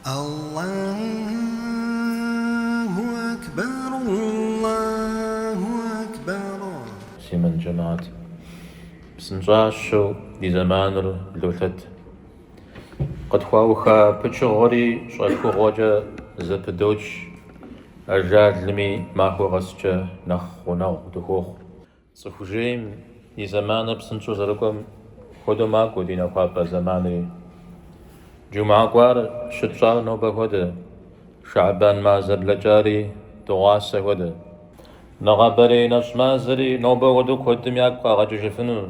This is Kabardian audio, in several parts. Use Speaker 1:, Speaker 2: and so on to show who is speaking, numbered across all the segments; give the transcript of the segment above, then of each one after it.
Speaker 1: Аллаху акбар, Аллаху акбар. Муслъымэн джэмаӏэт. Псынщӏащэу ди зэманыр блолъэт. Къытхуауха пычыгъуэри щӏэхыгъуэкӏэ зэпыдоч, ажалми махуэ къэскӏэ нэхъ гъунэгъу дыхуохъу. Цӏыху жейм и зэманыр псынщӏэу зэрыкӏуэм хуэдэу макӏуэ ди нэхуапӏэ зэманри. Джумхьэ кӏуар щытщӏар нобэ хуэдэ, Шэӏэбан мазэ блэкӏари дыгъуасэ хуэдэ. Нэгъабэрей нэщӏ мазэри нобэ хуэдэу куэдым ягу къагъэкӏыжыфыну.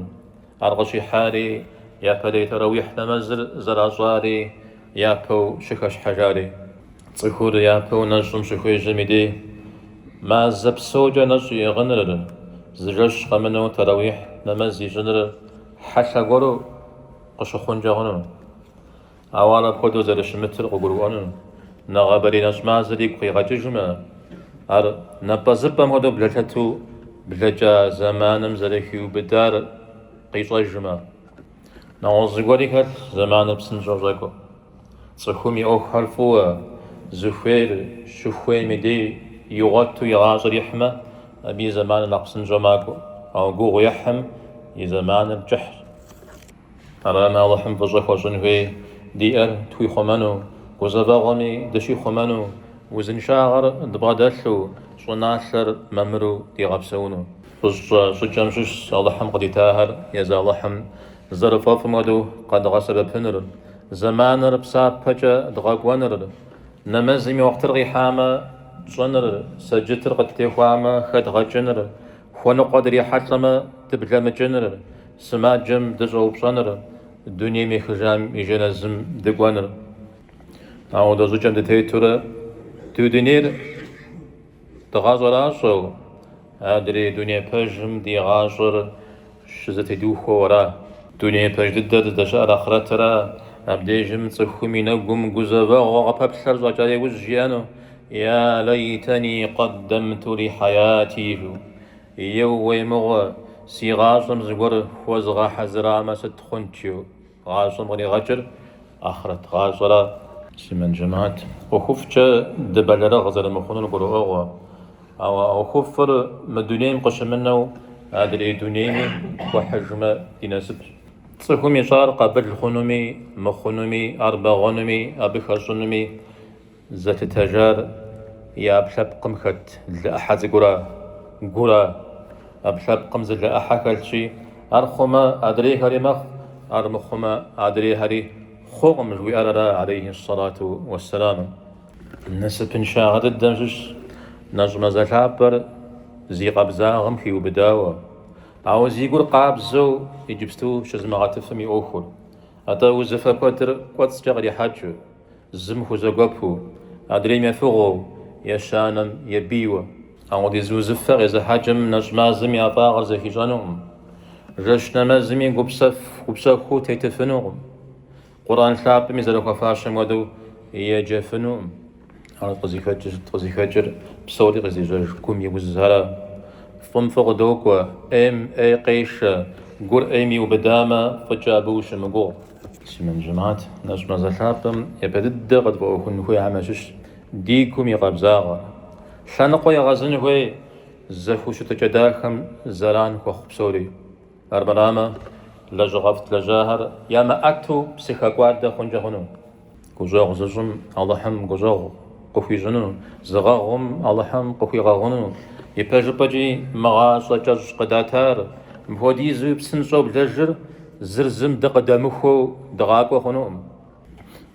Speaker 1: Ар къыщихьари, япэрей тарэуихь нэмэзыр зэращӏари япэу щыхэщхьэжари. Цӏыхур япэу нэщӏым щыхуежьэм и дей, мазэ псокӏэ нэщӏ иӏыгъыныр, зы жэщ къэмынэу тарэуихь нэмэз ищӏыныр хьэлъэ гуэру къыщыхъункӏэ хъуну? Ауэ ар апхуэдэу зэрыщымытыр къыгурыӏуэну, нэгъабэрей нэщӏ мазэр игу къигъэкӏыжмэ, ар напӏэзыпӏэм хуэдэу блэлъэту блэкӏа зэманым зэрыхиубыдар къищӏэжмэ. Нэгъуэщӏ зыгуэри хэлъщ зэманыр псынщӏэу щӏэкӏуэм. Цӏыхум и ӏуэхухэр фӏыуэ, зыхуейр щыхуейм и дей игъуэту и гъащӏэр ихьмэ, абы и зэманыр нэхъ псынщӏэу макӏуэ. Ауэ гугъу ехьым и зэманыр кӏыхьщ. Арами, Алыхьым фӏыщӏэ хуэщӏын хуей диӏэр тхуихъумэну, гузэвэгъуэми дыщихъумэну, узыншагъэр дбгъэдэлъу, щӏыналъэр мамыру дигъэпсэуну. Фӏыщӏэ щӏыкӏэм щыщщ Алыхьым къыдитахэр езы Алыхьым зэрыфӏэфӏым хуэдэу къэдгъэсэбэпыныр, зэманыр псапэкӏэ дгъэкӏуэныр, нэмэзым и уэкътыр къихьамэ, тщӏыныр, сэджытыр къыттехуамэ, хэдгъэкӏыныр, хуэныкъуэ дрихьэлӏэмэ, дыблэмыкӏыныр, Сымаджэм дыщӏэупщӏэныр, дунейм ехыжам и жэназым дыкӏуэныр. Ауэ дэ а щӏыкӏэм дытетурэ ди дунейр дгъэщӏэращӏэу, адрей дуней пэжым ди гъащӏэр щызэтедухуэу ара? Дуней пэж дыдэр здэщыӏэр ахърэтра? Абдежым цӏыхум и нэгум гузэвэгъуэ къыпэплъэр щӏэкӏа иужь жиӏэну, Я лэйтани къэддэмту ли хьэяти! жиӏэу. Еууей мыгъуэ, си гъащӏэм зыгуэр хуэзыгъэхьэзырамэ, сыт хъунт жо? Гъащӏэм къригъэкӏыр ахърэт гъащӏэра? Муслъымэн джэмаӏэт. ӏуэхуфӏкӏэ дыбэлэрыгъ зэрымыхъунур гурыӏуэгъуэ. Ауэ а ӏуэхуфӏыр мы дунейм къыщымынэу адрей дунейми хуэхьыжмэ ди насыпщ. Цӏыхум ищӏар къабыл хъунуми, мыхъунуми, ар бэгъуэнуми, абы хэщӏынуми, Зэлъытэжар и ӏэпкълъэпкъым хэт лы ӏыхьэ цӏыкӏура, гура? ӏэпкълъэпкъым зы лы ӏыхьэ хэлъщи, ар хъумэ, адрейхэри мэхъу, ар мыхъумэ, адрейхэри хъукъым, жыхуиӏэр ара, алейхи ссалату уэссэламу. Насыпыншагъэ дыдэм щыщщ нэщӏ мазэ лъапӏэр зи къабзагъэм хиубыдауэ, ауэ зи гур къабзэу иджыпсту щызымыгъэтыфым и ӏуэхур. Атӏэ узыфэ куэдыр кӏуэцӏкӏэ кърихьэкӏыу, Зым хузэгуэпу, адрейм ефыгъуэу, ещанэм ебийуэ. Апхуэдиз узыфэ къезыхьэкӏым нэщӏ мазэм и ӏэфӏагъыр зэхищӏэнукъым. Жэщ нэмэзми гупсэ, гупсэхуу тетыфынукъым. Къурӏэн лъапӏэми зэрыхуэфащэм хуэдэу еджэфынукъым. Ар къызыхэкӏыр псори къызежьэж гум и узхэра. Фӏым фӏы къыдокӏуэ, ӏейм ӏей къешэ, гур ӏейм иубыдамэ, фӏыкӏэ абы ущымыгугъ. Муслъымэн жэмыхьэт, нэщӏ мазэ лъапӏэм япэ дыдэ къытфӏэӏуэхун хуейхэм ящыщщ ди гум и къабзагъэр. Лъэныкъуэ егъэзын хуей зэхущытыкӏэ дахэм зэран хуэхъу псори. Армырамэ, лэжьыгъэфӏ тлэжьахэр ямыӏэту псыхэкӏуадэ хъункӏэ хъуну? Гущӏэгъу зыщӏым Алыхьым гущӏэгъу къыхуищӏыну, зыгъэгъум Алыхьым къыхуигъэгъуну, ипэжыпӏэкӏи мы гъащӏэ кӏэщӏ къыдатар, мыпхуэдизуи псынщӏэу блэжыр зыр зым дыкъыдэмыхуэу дыгъакӏуэ хъунукъым.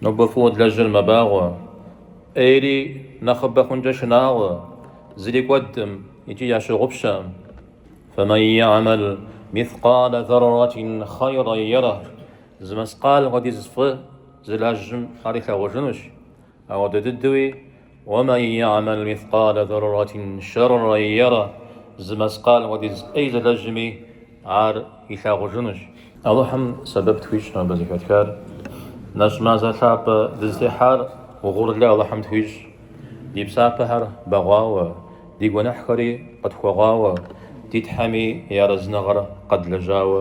Speaker 1: Нобэ фӏыуэ длэжьыр мэбагъуэ, ӏейри нэхъыбэ хъункӏэ шынагъуэ, зыри кӏуэдкъым икӏи ящыгъупщэкъым. Фэмэн яӏэмэл мискъалэ зэрратин хъэйрэ ерэ, Зы мэскъал хуэдиз фӏы зылэжьым ар илъагъужынущ, апхуэдэ дыдэуи, Уэмэн яамэл мискъалэ зэрратин шэррэ яра, зы мэскъал хуэдиз ӏей зылэжьми ар илъагъужынущ. Алыхьым сэбэп тхуищӏ абы зэхэтхар, нэщӏ мазэ лъапӏэ дызытехьар угъурлы Алыхьым тхуищӏ, ди псапэхэр бэгъуауэ, ди гуэныхьхэри къытхуэгъуауэ, ди Тхьэми и арэзыныгъэр къэдлэжьауэ,